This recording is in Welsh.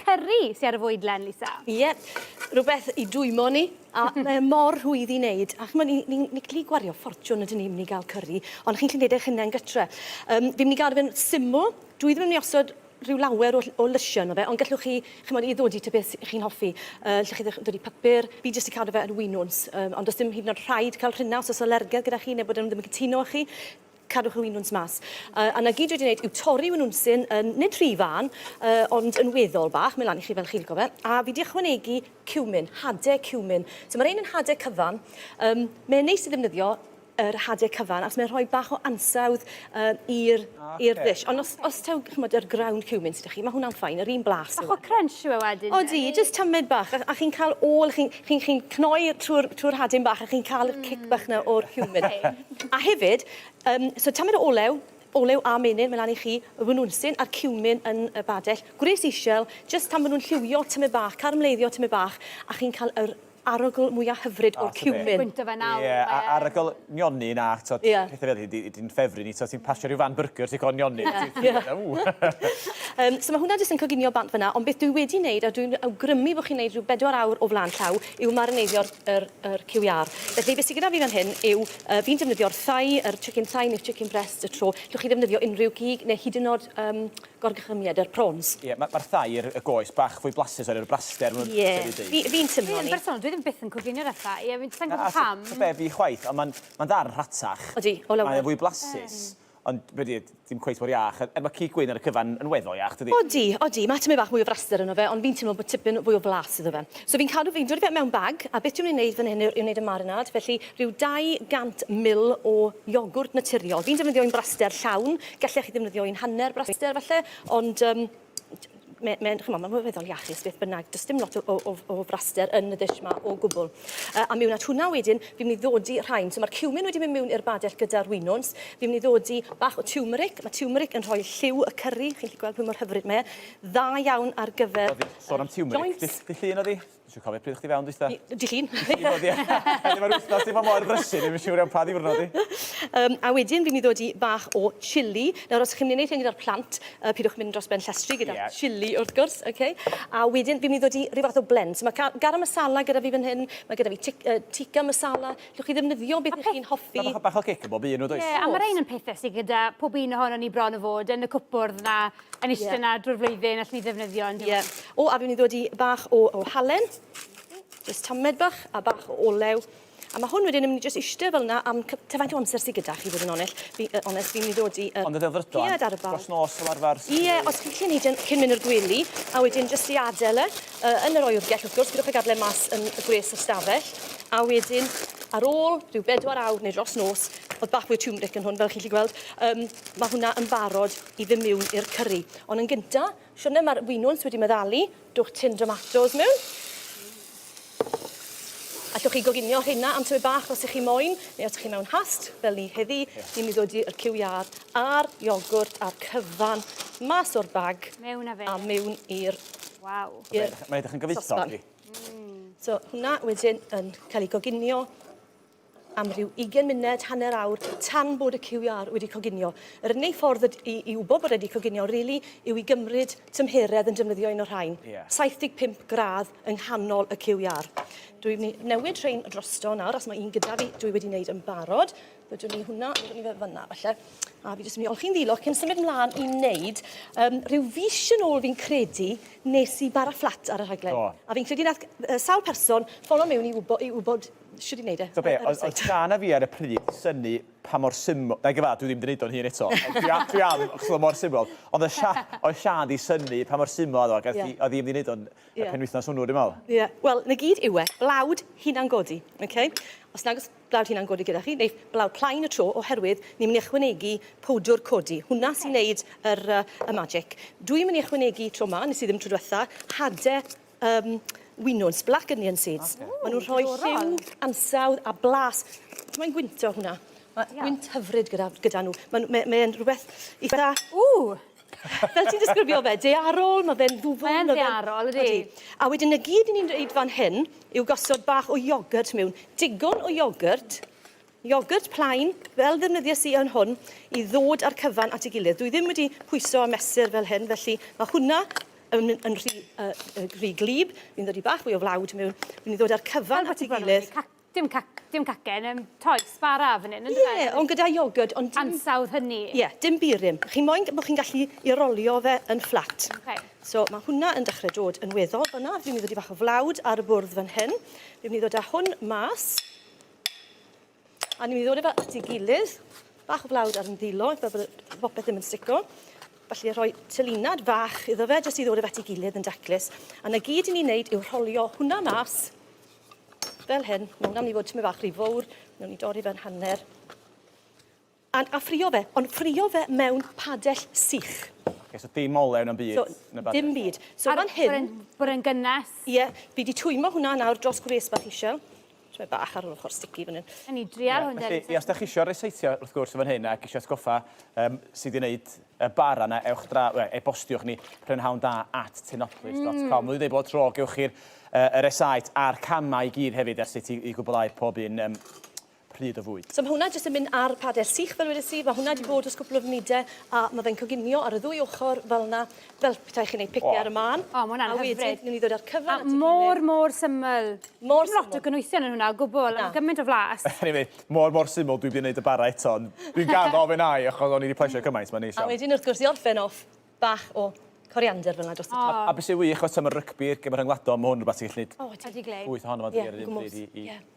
Cyrri sy ar y fwydlen, Lisa? Ie, rhywbeth i dwymo ni, a mae e mor rhwydd i wneud. A chimod, ni, ni, ni gallu gwario ffortiwn ydyn ni, mynd i gael cyrri, ond chi'n gallu gwneud eich hunain gytre. Um, fi'n mynd i gael fe'n syml, dwi ddim yn mynd i osod rhyw lawer o, o lysiau yno fe, ond gallwch chi, chimod, i ddodi ta beth chi'n hoffi. Uh, lle chi ddodi papur, fi jyst i cadw fe yn winwns, um, ond does dim hyd yn oed rhaid cael rhina os oes alergedd gyda chi neu bod nhw ddim yn cytuno â chi. cadwch y winwns mas. Uh, a na gyd wedi wneud yw torri winwns sy'n uh, nid rhy fân, uh, ond yn weddol bach, mae lan i chi fel chi'n gofio. A fi wedi ychwanegu cumin, hade cumin. So mae'r ein yn hade cyfan. Um, mae'n neis i ddefnyddio yr hade cyfan, achos mae'n rhoi bach o ansawdd uh, i'r okay. ddish. Ond os, os taw, chymod, yr ground cumin sydd chi, mae hwnna'n ffain, yr un blas. Bach o crunch yw e wedyn. O di, just tymed bach, a, a chi'n cael ôl, chi'n Chi'n chi'n cnoi trwy'r trwy'r rhadyn bach a chi'n ca'l y cic bach 'na o'r ciwmin. A hefyd yym so tamed o olew, olew a menyn myn' lan i chi, y winwnsyn a'r ciwmin yn y badell, gwres ishel, jyst tan ma' nw'n lliwio tymed bach, caramleiddio tymed bach, a chi'n ca'l yr arogl mwya hyfryd o'r ciwmin. Gwynt o fe nawr. Ie a- arogl nionyn a t'od... Ia. ...pethe fel 'ny dy- dy'n ffefryn ni t'od ti'n pasio rhyw fan byrgyr ti'n cofio nionyn a ti'n ia ia ww! Yym so ma' hwnna jyst yn coginio bant fan 'na ond beth dwi wedi neud a dwi'n awgrymu bo' chi'n neud rhyw bedwar awr o flan llaw yw marineiddio yr yr cyw iâr. Felly be' sy gyda fi fan hyn yw yy fi'n defnyddio'r thigh yr chicken thigh ne'r chicken breast y tro llwch chi ddefnyddio unrhyw gig ne' hyd yn o'd yym Gorchymydd yr prawns. Ie, ma ma'r thair, y goes, bach fwy blasus oherwydd y braster ma' Ie, fi fi'n teimlo ni. Fi yn bersonol, dwi ddim byth yn coginio na thai, ie, fi'n, sai'n gwbo pam. Na, be fi chwaith, ond ma'n ma'n ddarn rhatach. Odi, o lawer. Mae o fwy blasus. Ie. Ond be di e, dim cweit mor iach, er ma' cig gwyn ar y cyfan yn weddol iach, dydi? Odi, odi, ma' tymed bach mwy o fraster yno fe, ond fi'n teimlo bod tipyn fwy o flas iddo fe. So fi'n cadw, fi'n dodi fe mewn bag, a beth dwi myn' i neud fan hyn yw yw neud y marinade, felly rhyw 200 ml o iogwrt naturiol. Fi'n defnyddio un braster llawn, Gallech chi ddefnyddio un hanner braster falle, ond um, mae'n mae, chymod, mae'n weddol iachus beth bynnag. Does dim lot o, o, o fraster yn y ddish yma o gwbl. Uh, a mewn at hwnna wedyn, fi'n mynd i ddodi rhain. So mae'r cumin wedi mynd mewn i'r badell gyda'r winwns. Fi'n mynd i ddodi bach o tiwmeric. Mae tiwmeric yn rhoi lliw y cyrri. Chi'n gallu gweld pwy mor hyfryd mae e. Dda iawn ar gyfer... Sôn am tiwmeric, dy, dy llun oedd hi? Dwi'n cofio pryd o'ch ti fewn dwytha? Dy llun. Dy llun, ie. Felly mae'r wythnos di bod mor brysur, ddim yn siŵr iawn pa ddiwrnod i. Um, a wedyn fi'n mynd i ddod i bach o chili. Nawr, os chi'n mynd i wneud hyn gyda'r plant, uh, pidwch mynd dros ben llestri gyda yeah. chili, wrth gwrs, okay? A wedyn fi'n mynd i ddod i rhyw fath o blend. So mae garam masala gyda fi fan hyn, mae gyda fi uh, tikka masala. Llwch chi ddefnyddio beth ych chi'n hoffi. Mae bach o cic yn bob un o does? Ie, yeah, a mae'r ein yn pethau sydd gyda pob un ohono ni bron o fod yn y cwpwrdd na Yn eistedd yna drwy'r flwyddyn, allen ni ddefnyddio yn diwedd. Ie. O, a fi'n mynd i ddod i bach o, o halen. Just tamed bach, a bach o olew. A mae hwn wedyn yn mynd i just eistedd fel yna am cy-... Tybed faint o amser sydd gyda chi, fod yn onell? Fi, yy, onest, fi'n mynd i ddod i... Yy, Ond y ddelfrydol, ie, dros nos fel arfer... Ie, os chi'n gallu neud e cyn mynd i'r gwely, a wedyn jyst i adael e, yy, yn yr oergell, wrth gwrs, pidwch â gadael e mas yn y gwres y stafell, a wedyn, ar ôl rhyw bedwar awr neu dros nos, oedd bach mwy o turmeric yn hwn, fel chi'n gallu gweld, um, mae hwnna yn barod i fyn miwn i'r cyrri. Ond yn gynta, siwrne mae'r winwns wedi meddalu, dwch tin domatos mewn. Allwch chi goginio rheina am tyfu bach os ych chi moyn, neu os ych chi mewn hast, fel ni heddi, yeah. ni'n mynd ddod i'r cyw iâr a'r iogwrt a'r cyfan mas o'r bag mewn a, fe. a mewn i'r... Waw. Mae'n edrych yn gyfoethog. Mm. So hwnna wedyn yn cael ei goginio am rhyw ugen munud, hanner awr, tan bod y QR wedi coginio. Yr unig ffordd i, i wybod bod wedi coginio, really, yw i gymryd tymheredd yn defnyddio un o'r rhain. Yeah. 75 gradd yng nghanol y QR. Dwi'n mynd i newid rhain drosto nawr, os mae un gyda fi, dwi wedi wneud yn barod. Byddwn ni hwnna, byddwn ni fe fyna, falle. A fi jyst yn mynd i olchi'n ddilog cyn symud mlaen i wneud um, rhyw fis yn ôl fi'n credu nes i bara fflat ar y rhaglen. A fi'n credu nath uh, sawl person ffono mewn i wybod, i wybod Shwd i wneud e. T'o' be', oedd oedd Siân a fi ar y pryd synnu pa mor syml... Nage fad, dwi ddim 'di neud o'n hun eto. Ond dwi a- dwi am, achos oedd o mor syml. Ond oedd Sha- oedd Siân 'di synnu pa mor syml oedd o, ac oedd hi oedd hi ddim 'di neud o'n y penwythnos hwnnw dwi'n me'wl. Ie. Wel, 'na gyd yw e. Blawd hunan-godi, oce? Os nag o's blawd hunan-godi gyda chi, neith blawd plaen y tro, oherwydd ni myn' i ychwanegu powdwr codi. Hwnna sy'n neud yr yy y magic. Dwi myn' i ychwanegu tro 'ma, nes i ddim tro dwetha, hade Yym, winwns, black onion seeds. Ocê. Ma' nw'n rhoi lliw, ansawdd a blas. Mae'n gwyntog hwnna. Ma'... Ie. ...gwynt hyfryd gyda gyda nhw. Ma' n'w mae mae e'n rhwbeth itha... Ww! Fel ti'n disgrifio fe, daearol, ma' fe'n ddwfwn, ma' fe'n... Mae'n ddaearol, ydi. Ydi. A wedyn y gyd 'yn ni'n neud fan hyn yw gosod bach o iogyrt mewn. Digon o iogyrt. Iogwrt plaen, fel ddefnyddiais i yn hwn, i ddod â'r cyfan at ei gilydd. Dwi ddim wedi pwyso a mesur fel hyn, felly mae hwnna yn, yn rhy, uh, rhy glib. Fi'n ddod i bach fwy o flawd mewn. Fi'n mynd i ddod â'r cyfan at ei gilydd. Dim, ca dim cacen, um, toes, bara fan hyn. Ie, yeah, ond gyda iogwrt, ond dim... Ansawdd hynny. Ie, yeah, dim burum. Chi'n moyn bod chi'n gallu i rolio fe yn fflat. Okay. So mae hwnna yn dechrau dod yn weddol fyna. Fi'n mynd i ddod i bach o flawd ar y bwrdd fan hyn. Fi'n mynd i ddod â hwn mas. A ni'n mynd i ddod efo at ei gilydd. Bach o flawd ar ymddilo, fel bod y bopeth ddim yn stico. Felly rhoi tylinad fach iddo fe, jyst i ddod efo at ei gilydd yn daclus. A na gyd i ni'n neud yw rholio hwnna mas, fel hyn. Mae hwnna'n mynd i fod tymed bach rhy fowr, newn ni dorri fe'n hanner. And a ffrio fe, ond ffrio fe mewn padell sych. Ok, so dim olew na'm byd yn y badell? Dim byd. So fan hyn... Ar yr un gynnes? Ie, fi di twymo hwnna nawr dros gwres bach isel. So mae bach ar yr ochr sticky fan hyn. Yn i drial hwn deri. Felly, os da chi isio reseitio wrth gwrs fan hyn ac isio atgoffa um, sydd i wneud y bar yna, ewch dra, we, e-bostiwch ni prynhawn da at tenoplis.com. Mm. Mwyn dweud bod tro, gewch chi'r uh, yr esaet a'r camau i gyd hefyd ar sut i, i gwblhau pob un um, pryd o fwyd. So mae hwnna jyst yn mynd ar pader sych fel wedes i, mae hwnna wedi bod dros cwpl o funudau a mae fe'n coginio ar y ddwy ochr fel yna, fel petai chi'n neud picnic ar y mân. O, mae hwnna'n hyfryd. A wedyn ni'n mynd i ddod â'r cyfan at ei gilydd. A mor, mor syml. Mor syml. Dim lot o gynwysion yn hwnna o gwbl, ond gymaint o flas. Anyway, mor, mor syml, dwi wedi neud y bara eto, ond dwi'n gaddo fe na i achos o'n i wedi plesio cymaint, mae'n neis iawn. A wedyn wrth gwrs i orffen off, bach o coriander fel yna dros y top. A, a be sy'n wych os am y rygbi, gem rhyngwladol, mae hwn yn rhywbeth ti'n gallu neud... O, ydi. ...llwyth ohono fo ar yr un pryd i, i... Ie.